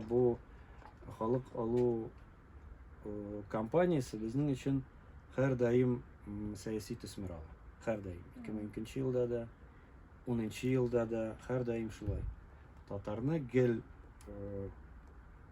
Бу халык алу кампаниясе безнең өчен һәрдаим сәяси төсмер ала. Һәрдаим. 2002 елда да, 10 елда да һәрдаим шулай. Татарны гел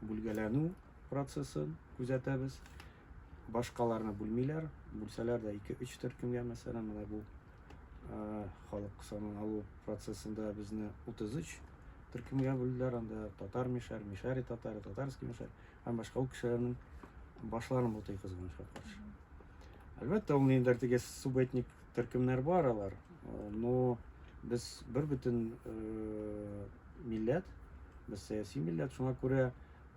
бүлгәләнү процессын күзәтәбез. Башкаларны бүлмиләр, бүлсәләр дә 2-3 төркемгә мәсәлән, менә бу халык санын алу процессында безне 33 төркемгә бүлделәр анда татар мишәр мишәри татар татарский мишәр һәм башка ул кешеләрнең башларын бутый кызганычка каршы әлбәттә ул ниндидер теге субэтник төркемнәр бар алар но без бер бөтен э, милләт без сәяси милләт шуңа күрә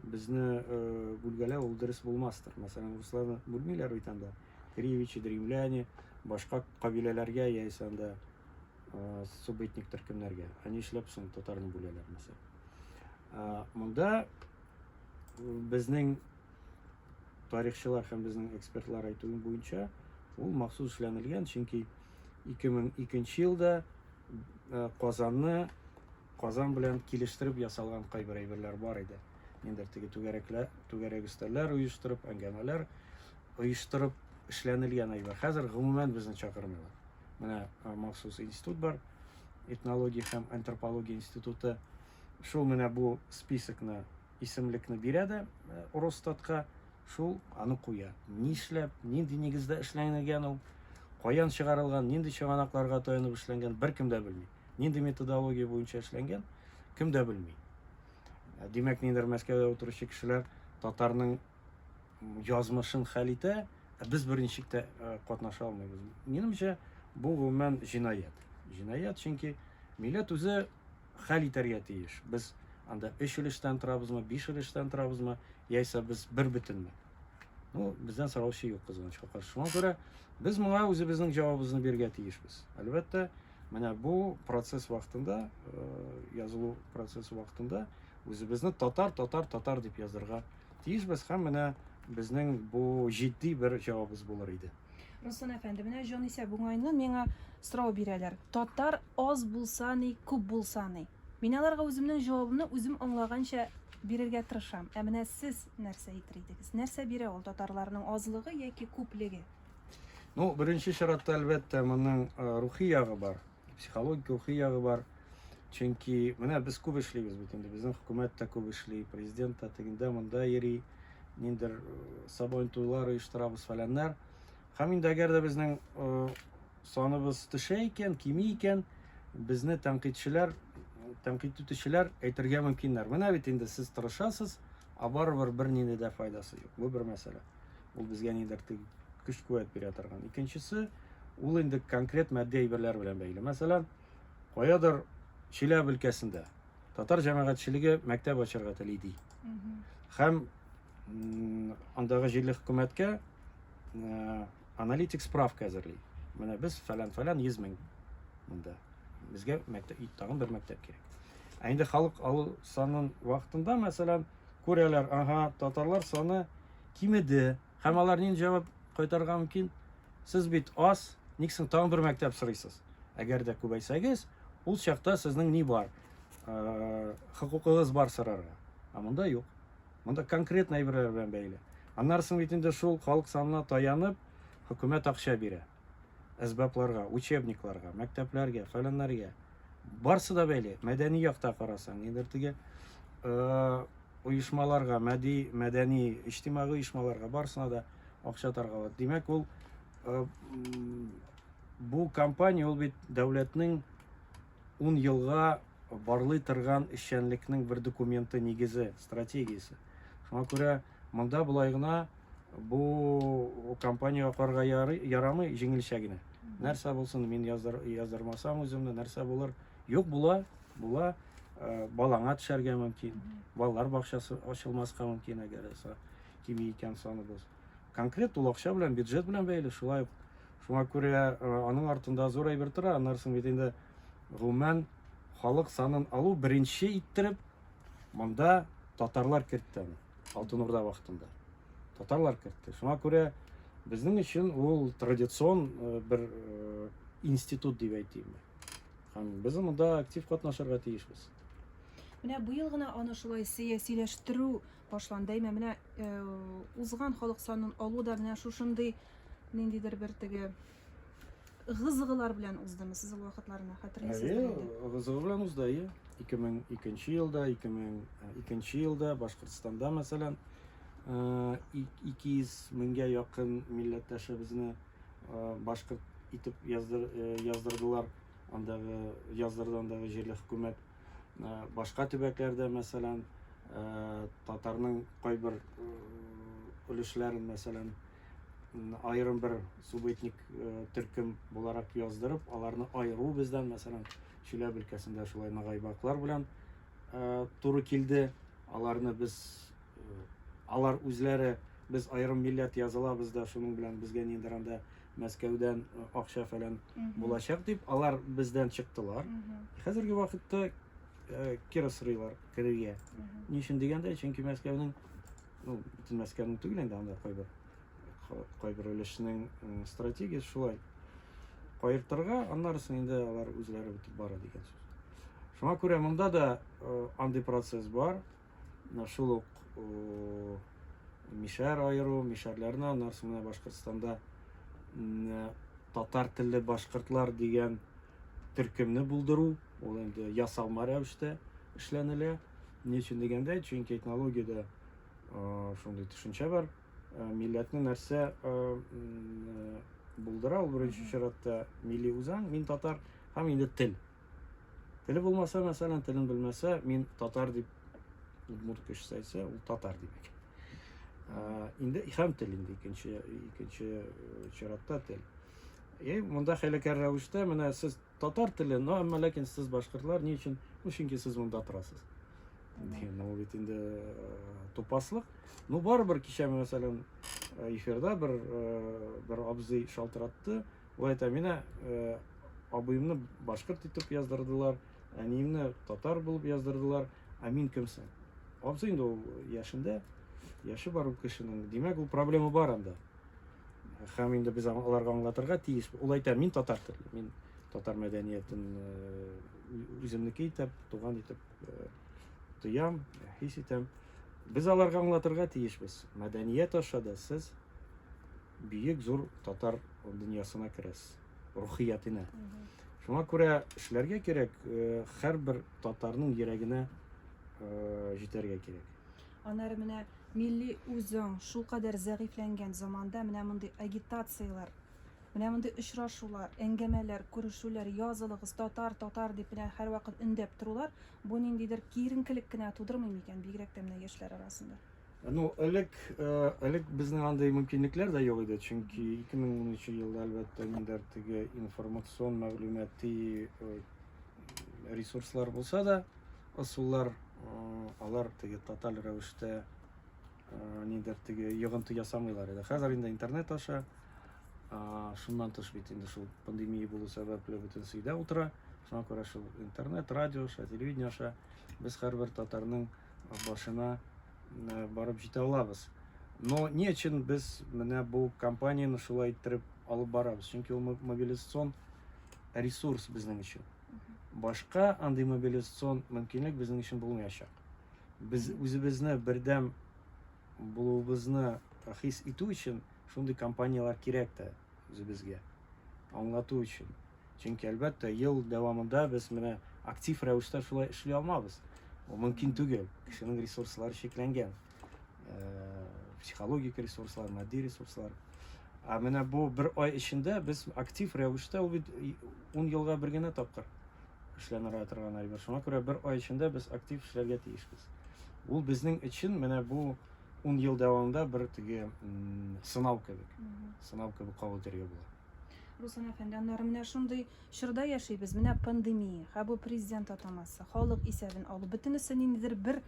безне э, бүлгәләү ул дөрес булмастыр мәсәлән русларны бүлмиләр бит анда Кривичи, древляне, башка кабиләләргә яисә анда субэтник төркемнәргә. Ә нишләп соң татарны бүләләр мәсәл? Монда безнең тарихчылар һәм безнең экспертлар әйтүе буенча, ул махсус эшләнелгән, чөнки 2002 елда Казанны Казан белән килештереп ясалган кайбер әйберләр бар иде. Нендер теге түгәрәкләр, түгәрәк өстәлләр оештырып, әңгәмәләр оештырып эшләнелгән әйбер. Хәзер гомумән безне чакырмыйлар. Менә махсус институт бар, этнология һәм антропология институты. Шул менә бу списокны, исемлекне бирә дә Росстатка, шул аны куя. Нишләп, нинди нигездә эшләнгән ул, каян чыгарылган, нинди чыганакларга таянып эшләнгән, беркем дә белми. Нинди методология буенча эшләнгән, кем дә белми. Димәк, нидер Мәскәүдә утыручы кешеләр татарның язмышын хәл итә, ә без беренчек тә катнаша алмыйбыз. Минемчә, бу гомумән җинаять. Җинаять, чөнки милләт үзе хәл итәргә тиеш. Без анда өч өлештән торабызмы, биш өлештән торабызмы, яисә без бер бөтенме? Ну, бездән сораучы юк кызганычка каршы. Шуңа күрә без моңа үзебезнең җавабыбызны бирергә тиешбез. Әлбәттә, менә бу процесс вакытында, э, язылу процессы вакытында үзебезне татар, татар, татар дип язырга тиешбез һәм менә безнең бу җитди бер җавабыбыз булыр иде. Руслан әфәнде, менә җанисәп уңайны миңа сорау бирәләр. Татар аз булса ни, күп булса ни? Мин аларга үземнең җавабымны үзем аңлаганча бирергә тырышам. Ә менә сез нәрсә әйтер идегез? Нәрсә бирә ул татарларның азлыгы яки күплеге? Ну, беренче чиратта, әлбәттә, моның рухи ягы бар. психологик рухи ягы бар. Чөнки менә без күп эшлибез бит инде, безнең хөкүмәт тә күп эшли, президент та тегендә монда йөри, ниндер сабан туйлар оештырабыз фәләннәр. Һәм инде әгәр дә безнең саныбыз төшә икән, кими икән, безне тәнкыйтьчеләр, тәнкыйть итүчеләр әйтергә мөмкиннәр. Менә бит инде сез тырышасыз, а барыбер бернинди дә файдасы юк. Бу бер мәсьәлә. Ул безгә нидер көч-куәт бирә торган. Икенчесе, ул инде конкрет матди әйберләр белән бәйле. Мәсәлән, каядыр Чиләбе өлкәсендә татар җәмәгатьчелеге мәктәп ачарга тели ди. Һәм андагы җирле хөкүмәткә э, аналитик справка әзерли. Менә без фәлән-фәлән 100 мең монда. Безгә мәктәп, тагын бер мәктәп кирәк. Ә инде халык алу санын вакытында, мәсәлән, Күрәләр, ага, татарлар саны кимеде. Һәм алар нинди җавап кайтарырга мөмкин? Сез бит аз, ник соң тагын бер мәктәп сорыйсыз? Әгәр дә күбәйсәгез, ул чакта сезнең ни бар? Э, хокукыгыз бар сорарга. Ә монда юк. Монда конкретно әйберләр белән бәйле. Аннары соң бит инде шул халык санына таянып, хөкүмәт акча бирә. әсбапларга, учебникларга, мәктәпләргә, фәләннәргә барсы да бәйле. Мәдәни якта карасаң, нидер теге э, оешмаларга, мәди, мәдәни, иҗтимагый оешмаларга барсына да акча таргалады. Димәк, ул э, бу компания ул бит дәүләтнең ун елга барлый торган эшчәнлекнең бер документы нигезе, стратегиясе. Шуңа күрә монда болай гына бу компаниягә карга ярамый җиңелчә генә. Нәрсә булсын, мин языр, яздырмасам үземне, нәрсә булыр? Юк була, була, э, балаңа төшәргә мөмкин, балалар бакчасы ачылмаска мөмкин, әгәр кими икән саныбыз. Конкрет ул акча белән, бюджет белән бәйле, шулай ук Шуңа күрә аның артында зур әйбер тора, аннары соң бит инде гомумән халык санын алу беренче иттереп монда татарлар кертте аны алтын урда вакытында татарлар кертте шуңа күрә безнең өчен ул традицион э, бер э, институт дип әйтим һәм без монда актив катнашырга тиешбез менә быел гына аны шулай сәясиләштерү Башланды әйме менә узган халык санын алу да менә шушындый ниндидер бер теге гызыгылар белән уздымы сез ул вакытларны хәтерлисезме әйе гызыгы белән узды әйе ике мең икенче елда ике мең икенче елда башкортстанда мәсәлән ике йөз меңгә якын милләттәшебезне башкорт итеп яздыр яздырдылар андагы яздырды андагы җирле хөкүмәт Э, башка төбәкләрдә мәсәлән э, татарның кайбер э, өлешләрен мәсәлән аерым бер субэтник төркем буларак яздырып аларны айыру бездән мәсәлән чиләб өлкәсендә шулай нагайбаклар белән туры килде аларны без алар үзләре без аерым милләт язалабыз да шуның белән безгә ниндиранда Мәскәүдән акча-фәлән булачак дип, алар бездән чыктылар. Хәзерге вакытта кире сырыйлар керергә. Ни өчен дигәндә, чөнки Мәскәүнең, ну, бөтен Мәскәүнең түгел инде, анда кайбер кайбер өлешнең стратегиясе шулай. Каертырга, аннары соң инде алар үзләре бетеп бара дигән сүз. Шуңа күрә монда да андый процесс бар. шул ук мишәр аеру, мишәрләрне аннан соң менә Башкортстанда татар телле башкортлар дигән төркемне булдыру, ул инде ясалма рәвештә эшләнелә. Ни өчен дигәндә, чөнки этнологиядә шундый төшенчә бар. Милләтне нәрсә булдыра, ул беренче чиратта милли үзаң, мин татар һәм инде тел. Теле булмаса, мәсәлән, телен белмәсә, мин татар дип удмурт кешесе әйтсә, ул татар дип икән. Ә, инде һәм тел инде икенче икенче э, чиратта тел. И монда хәйләкәр рәвештә менә сез татар теле, но әмма ләкин сез башкортлар ни өчен? Ну чөнки сез монда торасыз. Ну бит инде э, тупаслык. Ну барыбер кичә мәсәлән э, эфирда бер э, бер абзый шалтыратты. Болай та мина абыемны башкорт итеп яздырдылар, әниемне татар булып яздырдылар, ә мин кемсең? Абзый инде ул яшендә, яше бар ул кешенең. Димәк, ул проблема бар анда. Һәм инде без аларга аңлатырга тиеш. Ул әйтә, мин татар теле, мин татар мәдәниятен үземнеке итеп, туган итеп тоям, хис итәм. Без аларга аңлатырга тиешбез. Мәдәният аша да сез Бөек зур татар дөньясына керәсез, рухиятенә. Шуңа күрә эшләргә кирәк, һәрбер татарның йөрәгенә җитәргә кирәк. Аннары менә милли үзаң шулкадәр зәгыйфьләнгән заманда менә мондый агитацияләр, менә мондый очрашулар, әңгәмәләр, күрешүләр, язылыгыз, татар, татар дип менә һәрвакыт өндәп торулар, бу ниндидер киеренкелек кенә тудырмый микән, бигрәк тә менә яшьләр арасында? Ну, элек, э, элек безнең андый мөмкинлекләр дә юк иде, чөнки 2013 елда әлбәттә ниндер теге информацион мәгълүмати э, ресурслар булса да, ысуллар э, алар теге тоталь рәвештә ниндер теге йогынты ясамыйлар иде. Хәзер инде интернет аша шуннан тыш бит инде шул пандемия булу сәбәпле бөтен сөйдә утыра. Шуңа күрә шул интернет, радио аша, телевидение аша без һәрбер татарның бер башына барып җитә алабыз. Но ни өчен без менә бу компанияне шулай иттереп алып барабыз? Чөнки ул мобилизацион ресурс безнең өчен. Башка андый мобилизацион мөмкинлек безнең өчен булмаячак. Без үзебезне бердәм булуыбызны хис итү өчен шундый компанияләр кирәк тә үзебезгә. Аңлату өчен. Чөнки, әлбәттә, ел дәвамында без менә актив рәвештә шулай эшли алмабыз. Бу мөмкин түгел. Кешенең ресурслары чикләнгән. Э, психологик ресурслар, матди ресурслар. Ә менә бу бер ай эчендә без актив рәвештә ул бит 10 елга бер генә тапкыр эшләнергә торган әйбер. Шуңа күрә бер ай эчендә без актив эшләргә тиешбез. Ул безнең өчен менә бу 10 ел дәвамында бер теге сынау кебек. Сынау кебек кабул итәргә була. Руслан әфәнде, аннары менә шундый чорда яшибез, менә пандемия, һә бу президент атамасы, халык исәбен алу, бөтенесе ниндидер бер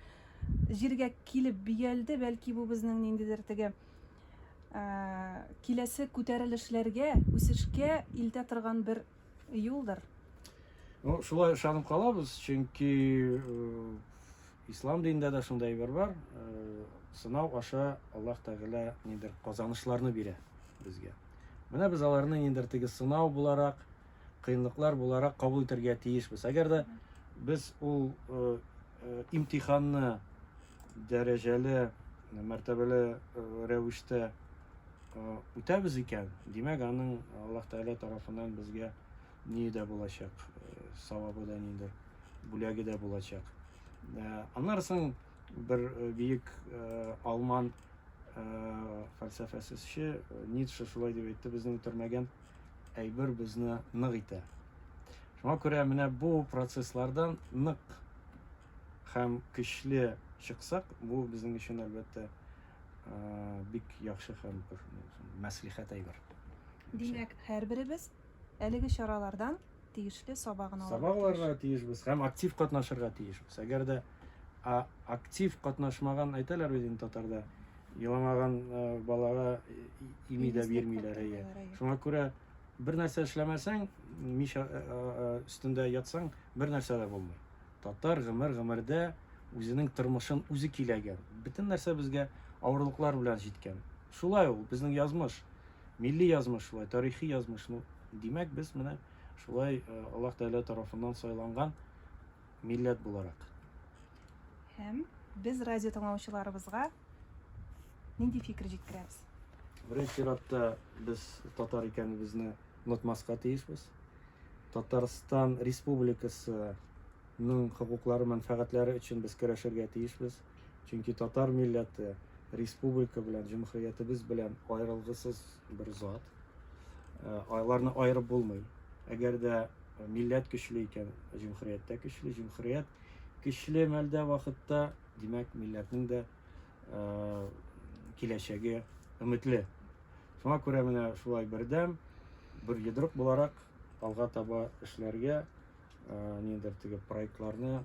җиргә килеп биялде, бәлки бу безнең ниндидер теге киләсе күтәрелешләргә, үсешкә илтә торган бер юлдыр. Ну, шулай ышанып калабыз, чөнки Ислам динендә дә шундый әйбер бар, сынау аша Аллаһ Тәгалә нидер казанышларны бирә безгә. Менә без аларны нидер теге сынау буларак, кыенлыклар буларак кабул итәргә тиешбез. Әгәр дә без ул имтиханны дәрәҗәле, мәртәбәле рәвештә үтәбез икән, димәк, аның Аллаһ Тәгалә тарафыннан безгә ни дә булачак, савабы да нидер. бүләге дә булачак. Аннары соң бер бөек алман фәлсәфәсезче Ницше шулай дип әйтте, безне үтермәгән әйбер безне нык итә. Шуңа күрә менә бу процесслардан нык һәм көчле чыксак, бу безнең өчен әлбәттә бик яхшы һәм бер мәслихәт әйбер. Димәк, һәрберебез әлеге чаралардан тиешле сабагын алырга Сабак алырга тиешбез һәм актив катнашырга тиешбез. Әгәр дә актив катнашмаган әйтәләр бит инде татарда, еламаган балага ими дә бирмиләр. Шуңа күрә бер нәрсә эшләмәсәң, мич өстендә ятсаң, бер нәрсә дә булмый. Татар гомер гомердә үзенең тормышын үзе киләгән. Бөтен нәрсә безгә авырлыклар белән җиткән. Шулай ул безнең язмыш. Милли язмыш шулай, тарихи язмыш. Ну, димәк, без менә шулай э, Аллаһ Тәгалә тарафыннан сайланган милләт буларак. Һәм без радио тыңлаучыларыбызга нинди фикер җиткерәбез? Беренче чиратта без татар икәнебезне онытмаска тиешбез. Татарстан Республикасының хокуклары, мәнфәгатьләре өчен без көрәшергә тиешбез. Чөнки татар милләте республика белән, җөмһүриятебез белән аерылгысыз бер зат. Э, аларны аерып булмый. Әгәр дә э, милләт көчле икән, җөмһүрият тә көчле, җөмһүрият көчле мәлдә вакытта, димәк, милләтнең дә э, киләчәге өметле. Шуңа күрә менә шулай бердәм, бер йодрык буларак алга таба эшләргә, ниндер теге проектларны